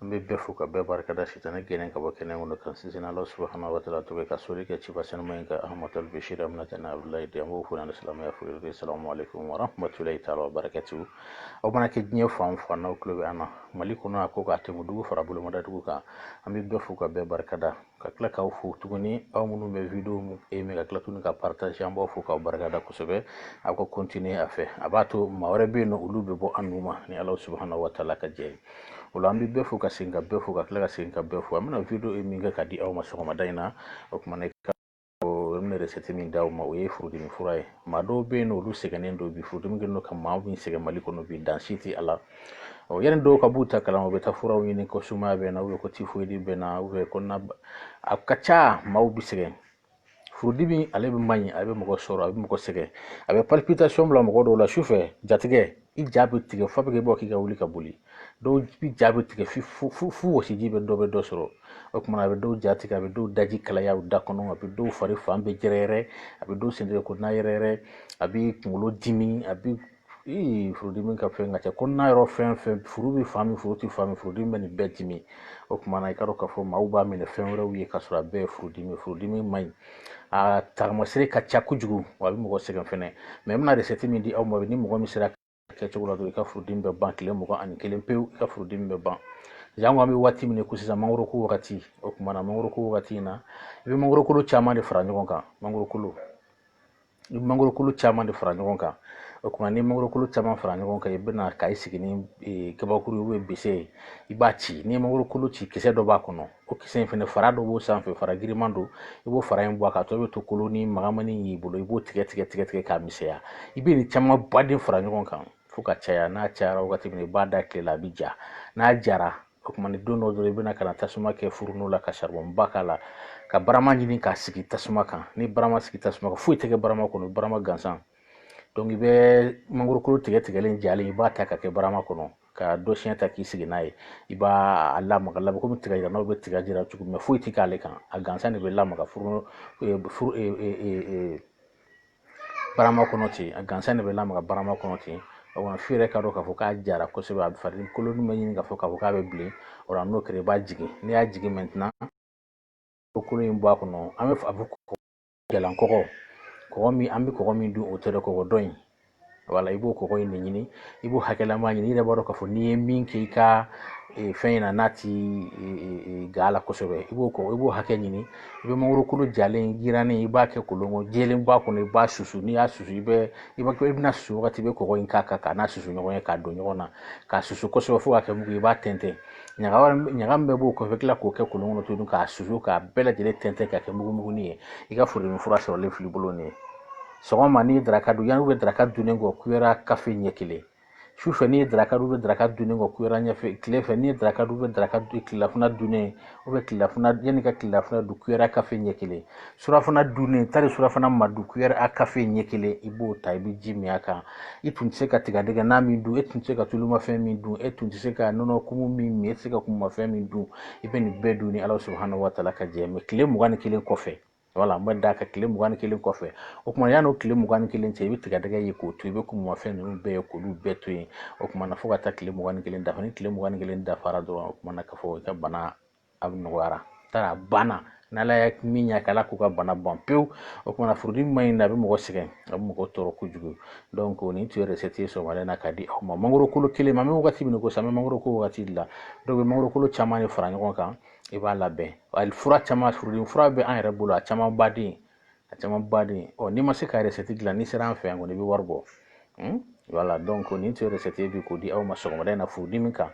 an bɛ bɛɛ fo ka bɛɛ barikada sitanɛ gɛn ka bɔ kɛnɛ kɔnɔ k'an sinsin ala subahana wa taala tɔgɔ ka soli kɛ ciba sanuma in kan ahamatal bishir aminata ni abdulayi den an b'aw fo n'an silamɛya fo yɛrɛ salamu alaikum wa rahmatulahi taala wa barakatuhu aw mana kɛ diɲɛ fan o fan n'aw tulo bɛ an na mali kɔnɔ a kɔkan tɛmɛ dugu fara bolomada dugu kan an bɛ bɛɛ fo ka bɛɛ barikada ka tila k'aw fo tuguni aw minnu bɛ video mun aimé ka tila tuguni ka partage an b'aw fo k'aw barikada kosɛbɛ aw ka continuer a fɛ a b'a to maa wɛrɛw bɛ yen nɔ olu bɛ bɔ a nu ma ni Alahu subahana wataala ka jɛ ye o la an bɛ bɛɛ fo ka segin ka bɛɛ fo ka tila ka segin ka bɛɛ fo an bɛna video min kɛ ka di aw ma sɔgɔmada in na o kuma na o an bɛna resɛti min d'aw ma o ye furudimi fura ye maa dɔw bɛ yen nɔ olu sɛgɛnnen don bi furudimi kɛlen don ka maa min sɛgɛn mali kɔnɔ bi dan si tɛ a la ɔ yanni dɔw ka b'u ta kalan u bɛ taa furaw ɲini ko sumaya bɛ n na ko tifoyidi bɛ n na kɔnɔna a ka ca maaw bɛ sɛgɛn furudimi ale bɛ man ɲi a bɛ mɔgɔ sɔrɔ a bɛ mɔgɔ sɛgɛn a bɛ palpitation bila mɔgɔ dɔw la sufɛ jatigɛ i ja bɛ tigɛ f'a bɛ kɛ i bolo k'i ka wuli ka boli dɔw i ja bɛ tigɛ fo fo fo wɔsiji bɛ dɔ bɛ dɔ sɔrɔ o kuma na a bɛ dɔw ja tigɛ a bɛ dɔw daji kalaya u da kɔnɔ a bɛ dɔw fari fan bɛɛ yɛrɛyɛrɛ a bɛ dɔw sentɛgɛ kɔnɔna yɛrɛyɛrɛ a bɛ kunkolo dimi a bɛ ee furudimi ka fɛn ka ca kɔnɔna yɔrɔ fɛn fɛn furu bɛ fan min furu tɛ fan min furudimi bɛ nin bɛɛ dimi o kuma na i k'a dɔn k'a fɔ maaw b'a minɛ fɛn wɛrɛw ye k'a sɔrɔ a bɛɛ ye furudimi ye furudimi man ɲi a tagamasere ka ca kojugu wa a bɛ mɔgɔ sɛgɛn fɛnɛ mɛ n bɛna resɛti min di aw ma ni mɔgɔ min sera kɛcogo la dɔrɔn i ka furudimi bɛ ban tile mugan ani kelen pewu i ka furudimi bɛ ban janko an bɛ waati min kɔnɔ sisan mangoro ko wagati o kuma na mangoro ko wagati in na i bɛ mangoro kolo caman de fara ɲɔgɔn kan mangoro kolo i bɛ mangorokolo caman de fara ɲɔgɔn kan o kuma ni mangorokolo caman fara ɲɔgɔn kan i bɛ na ka i sigi ni e, kabakuru ye bese ye i b'a ci n'i ye mangorokolo ci kisɛ dɔ b'a kɔnɔ o kisɛ in fana fara dɔ b'o sanfɛ fara giriman don i b'o fara in bɔ a kan tɔ bɛ to kolonin magamannin y'i bolo i b'o tigɛ tigɛ tigɛ tigɛ k'a misɛnya i bɛ nin camanba de fara ɲɔgɔn kan f'a ka caya n'a cayara wagati min i b'a da tile la a bɛ ja n'a jara o kuma ni don dɔ dɔrɔn i bɛna ka na tasuma kɛ furunɔ la ka saribɔnba k'a la ka barama ɲini k'a sigi tasuma kan ni barama sigi tasuma kan foyi tɛ kɛ barama kɔnɔ barama gansan don i bɛ mangorokolo tigɛ tigɛlen jalen i b'a ta k'a kɛ barama kɔnɔ ka dɔ siɲɛ ta k'i sigi n'a ye i b'a lamaga la komi tiga jiran aw bɛ tiga jiran cogo min na foyi tɛ k'ale kan a gansan de bɛ lamaga furu barama kɔnɔ ten a gansan de bɛ lamaga barama kɔnɔ ten o kɔnɔ f'i yɛrɛ k'a dɔn k'a fɔ k'a jara kosɛbɛ a bɛ falen kolonin bɛ ɲini k'a fɔ k'a fɔ k'a bɛ bilen o la n'o kɛra i b'a jigin n'i y'a jigin maintenant ka kolo in bɔ a kɔnɔ an bɛ a bɛ kɔgɔ jalan kɔgɔ kɔgɔ min an bɛ kɔgɔ min dun o tɛ dɛ kɔgɔ dɔ in wala i b'o kɔgɔ in de ɲini i b'o hakɛlama ɲini i yɛrɛ b'a dɔn k'a fɔ n'i ye min kɛ i ka fɛn in na n'a ti ga la kosɛbɛ i b'o hakɛ ɲini i bɛ mangoro kolo jalen jirannen i b'a kɛ kolon kɔnɔ jɛlenba kɔnɔ i b'a susu n'i y'a susu i bɛ i b'a i bɛna susu wagati i bɛ kɔgɔ in k'a kan k'a n'a susu ɲɔgɔn ye k'a don ɲɔgɔn na k'a susu kosɛbɛ fo k'a kɛ mugu i b'a tɛntɛn ɲaga wɛrɛ ɲaga min bɛ b'o kɔfɛ kila k'o kɛ kolon kɔnɔ tuguni k'a susu k'a bɛɛ lajɛlen tɛntɛn k'a kɛ mugumugunin ye i ka furudimi fura sɔrɔlen fil'i bolo nin ye sɔgɔma n'i ye daraka dun yanni u bɛ daraka dunnen kɔ kuyɛra kafe ɲɛ kelen sufɛ n'i ye daraka dun u bɛ daraka dunnen kɔ kuyɛra ɲɛfɛ tile fɛ n'i ye daraka dun u bɛ daraka dun tilelafana dunnen u bɛ tilelafana yanni ka tilelafana dun kuyɛra kafe ɲɛ kelen surafana dunnen tari surafana ma dun kuyɛra a kafe ɲɛ kelen i b'o ta i bɛ ji min a kan i tun tɛ se ka tigadɛgɛna min dun e tun tɛ se ka tulumafɛn min dun e tun tɛ se ka nɔnɔ kumu min min e tɛ se ka kumumafɛn min dun i bɛ nin bɛɛ dun ni ala subahana wa taala ka dɛmɛ tile mugan ni kelen kɔfɛ wala an bɛ da ka tile mugan ni kelen kɔfɛ o kuma yan'o tile mugan ni kelen cɛ i bɛ tigadɛgɛ ye k'o to i bɛ kumumafɛn ninnu bɛɛ ye k'olu bɛɛ to yen o kuma na fo ka taa tile mugan ni kelen dafa ni tile mugan ni kelen dafara dɔrɔn o kuma na k'a fɔ i ka bana a nɔgɔyara tar'a banna n'ala y'a min y'a k'ala k'u ka bana ban pewu o kumana furudimi man ɲi na a bɛ mɔgɔ sɛgɛn a bɛ mɔgɔ tɔɔrɔ kojugu donc nin tun ye resɛti ye sɔgɔmada na ka di aw ma mangoro kolo kelen ma an bɛ wagati min ko sisan an bɛ mangoro ko wagati de la donc i bɛ mangoro kolo caman de fara ɲɔgɔn kan i b'a labɛn hali fura caman furudimi fura bɛ an yɛrɛ bolo a caman baden a caman baden ɔ n'i ma se ka resɛti dilan n'i sera an fɛ yan kɔni i bɛ wari bɔ hmm? wala donc nin tun ye resɛti ye bi k'o di aw ma sɔgɔmada in na furudimi kan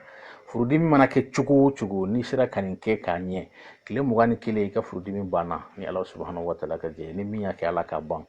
furudimi mana kɛ cogo o cogo n'i sera ka nin kɛ k'a ɲɛ tile mugan ni kelen i ka furudimi banna ni ala subahana wataala ka dɛmɛ ni min y'a kɛ ala k'a ban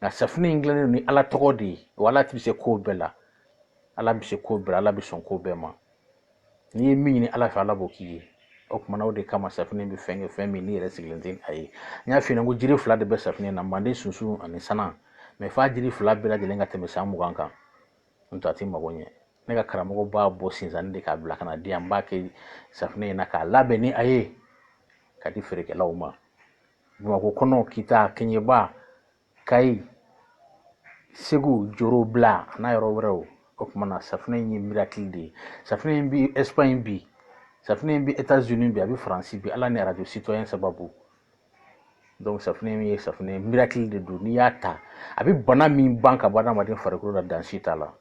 nka safunɛ in dilannen ni ala tɔgɔ de ye wa ala de bɛ se ko bɛɛ la ala bɛ se ko bɛɛ la ala bɛ sɔn ko bɛɛ ma n'i ye min ɲini ala fɛ ala b'o k'i ye o kumana o de kama safunɛ bɛ fɛn kɛ fɛn min n'i yɛrɛ sigilen tɛ a ye n y'a f'i ɲɛna ko jiri fila de bɛ safunɛ na manden sunsun ani sanan mɛ f'a jiri fila bɛɛ lajɛlen ka tɛmɛ san mugan kan n'o tɛ a tɛ mago ɲɛ ne ka karamɔgɔ b'a bɔ sinsani de k'a bila ka n'a di yan n b'a kɛ safunɛ in na k'a labɛn ni a ye k'a di feerekɛlaw ma bamakɔ kɔnɔ kita kɛɲɛba kayi segu joro bila n'a yɔrɔ wɛrɛw o kuma na safunɛ in ye mirakili de ye safunɛ in bi ɛsipaɲi bi safunɛ in bi etazini bi a bi faransi bi ala ni arajo sitɔyɛn sababu donc safunɛ in ye safunɛ mirakili de don n'i y'a ta a bɛ bana min ban ka bɔ adamaden farikolo la dan si t'a la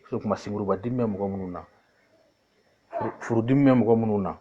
so kuma senkuruba dimi bɛ mɔgɔ minnu na furudimi bɛ mɔgɔ minnu na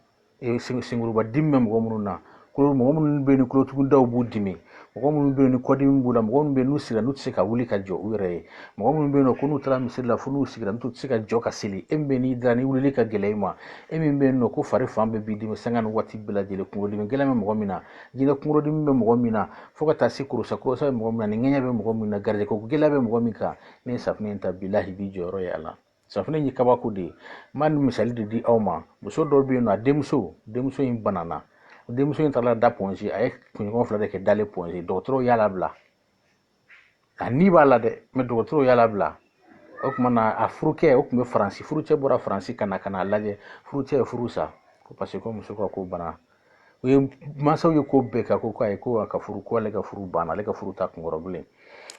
senkuruba dimi bɛ mɔgɔ minnu na kolo mɔgɔ minnu bɛ yen ni kolotugudaw b'u dimi mɔgɔ minnu bɛ yen ni kɔdimi b'u la mɔgɔ minnu bɛ yen n'u sigira n'u tɛ se ka wuli ka jɔ u yɛrɛ ye mɔgɔ minnu bɛ yen nɔ ko n'u taara misiri la fo n'u sigira n'u tɛ se ka jɔ ka seli e min bɛ n'i da ni wulili ka gɛlɛn i ma e min bɛ yen nɔ ko fari fan bɛɛ b'i dimi sanga ni waati bɛɛ lajɛlen kunkolodimi gɛlɛn bɛ mɔgɔ min na jinɛ kunkolodimi bɛ mɔgɔ min na fo ka taa se korosa korosa bɛ mɔgɔ min na ni ŋɛɲɛ bɛ mɔgɔ min na garijɛgɛ gɛlɛya bɛ mɔgɔ min kan n'i ye safunɛ in ta bilahi b'i jɔyɔrɔ ye a la safunɛ in ye kabako de ye n b'a ni misali de di aw ma muso dɔ bɛ yen nɔ a denmuso denmuso in banana denmuso in taara da Point G a ye kunɲɔgɔn fila de kɛ dalen Point G dɔgɔtɔrɔw y'a labila a ni b'a la dɛ mɛ dɔgɔtɔrɔw y'a labila o kumana a furukɛ o tun bɛ faransi furucɛ bɔra faransi ka na ka n'a lajɛ furucɛ ye furu sa ko parce que ko muso ka ko banna u ye mansaw ye ko bɛɛ kɛ ko ayi ko a ka furu ko ale ka furu banna ale ka furu t'a kunkɔrɔ bilen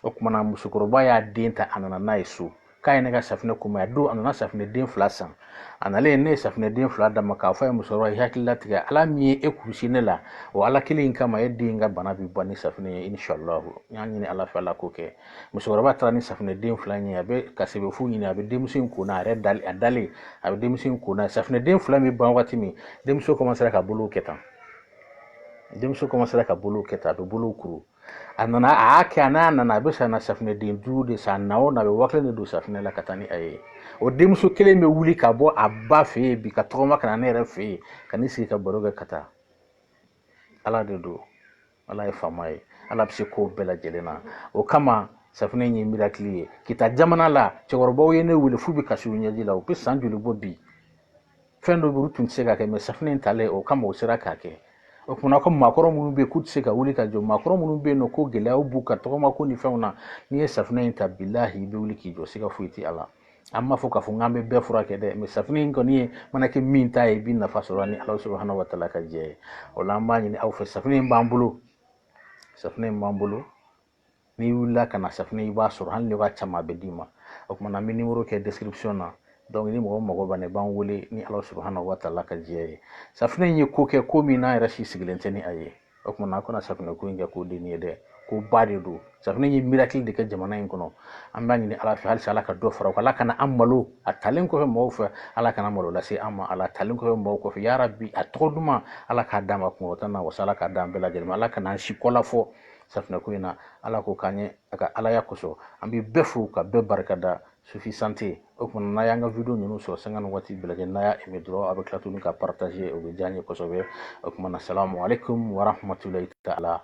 o kumana musokɔrɔba y'a den ta a nana n'a ye so k'a ye ne ka safinɛ kunbaya don a nana safinɛ den fila san a nalen ne ye safinɛ den fila d'a ma k'a fɔ a ye musokɔrɔba ye hakili latigɛ ala min ye e kunsin ne la o ala kelen in kama e den ka bana bɛ ban ni safinɛ ye inshallahu n y'a ɲini ala fɛ ala k'o kɛ musokɔrɔba taara ni safunɛden fila in ye a bɛ ka sebe fu ɲini a bɛ denmuso in ko n'a yɛrɛ dalen a dalen a bɛ denmuso in ko n'a safunɛden fila bɛ ban waati min denmuso kɔmasera ka bolow kɛ tan denmuso kɔmasera ka bolow kɛ tan a bɛ bolow kuru a nana a y'a kɛ a n'a nana a bɛ san na safunɛden duuru de san na o na a bɛ waa kelen de don safunɛ la ka taa ni a ye o denmuso kelen bɛ wuli ka bɔ a ba fɛ yen bi ka tɔgɔma ka na ne yɛrɛ fɛ yen ka n'i sigi ka baro kɛ ka taa ala de don ala ye faama ye ala bɛ se ko bɛɛ lajɛlen na o kama safunɛ in ye miracle ye kita jamana la cɛkɔrɔbaw ye ne wele f'u bɛ kasi u ɲɛji la u bɛ san joli bɔ bi fɛn dɔ bɛ olu tun tɛ se k'a kɛ mɛ safunɛ in talen o kama o sera k'a kɛ o kumana ko maakɔrɔ minnu bɛ yen k'u tɛ se ka wuli ka jɔ maakɔrɔ minnu bɛ yen nɔ ko gɛlɛyaw b'u ka tɔgɔma ko ni fɛnw na n'i ye safunɛ in ta bilahi i bɛ wuli k'i jɔ siga foyi tɛ a la an m'a fɔ k'a fɔ k'an bɛ bɛɛ furakɛ dɛ mɛ safinɛ in kɔni ye mana kɛ min ta ye i bɛ nafa sɔrɔ ni ala subahana wa taala ka jɛ ye o la an b'a ɲini aw fɛ safinɛ in b'an bolo safinɛ in b'an bolo n'i wulila ka na safinɛ i b'a sɔrɔ hali n'i b'a caman a bɛ d'i ma o kumana an bɛ nimoro kɛ description na donc ni mɔgɔ mago b'an na i b'an wele ni ala subahana wa taala ka jɛ ye safinɛ in ye ko kɛ ko min n'an yɛrɛ si sigilen tɛ ni a ye o kumana a kana safunɛ ko in kɛ ko den ye dɛ ko ba de don safunɛ ye miracle de kɛ jamana in kɔnɔ an b'a ɲini ala fɛ halisa ala ka dɔ fara o kan ala kana an malo a talen kɔfɛ mɔgɔw fɛ ala kana malo lase an ma ala talen kɔfɛ mɔgɔw kɔfɛ ya rabi a tɔgɔ duman ala k'a d'an ma kunkɔrɔta n'a wasa ala k'a d'an bɛɛ lajɛlen ma ala kana an si kɔla fɔ safunɛ ko in na ala k'o k'an ye a ka alaya kosɔn an bɛ bɛɛ fo ka bɛɛ barika da Sufi Santé o kumana n'a y'an ka video ninnu sɔrɔ sanga ni waati bɛɛ lajɛlen n'a y'a aimé dɔrɔn a bɛ tila tuguni ka partager o bɛ diya n ye kosɛbɛ o kumana salamu aleykum wa rahmatulahi taala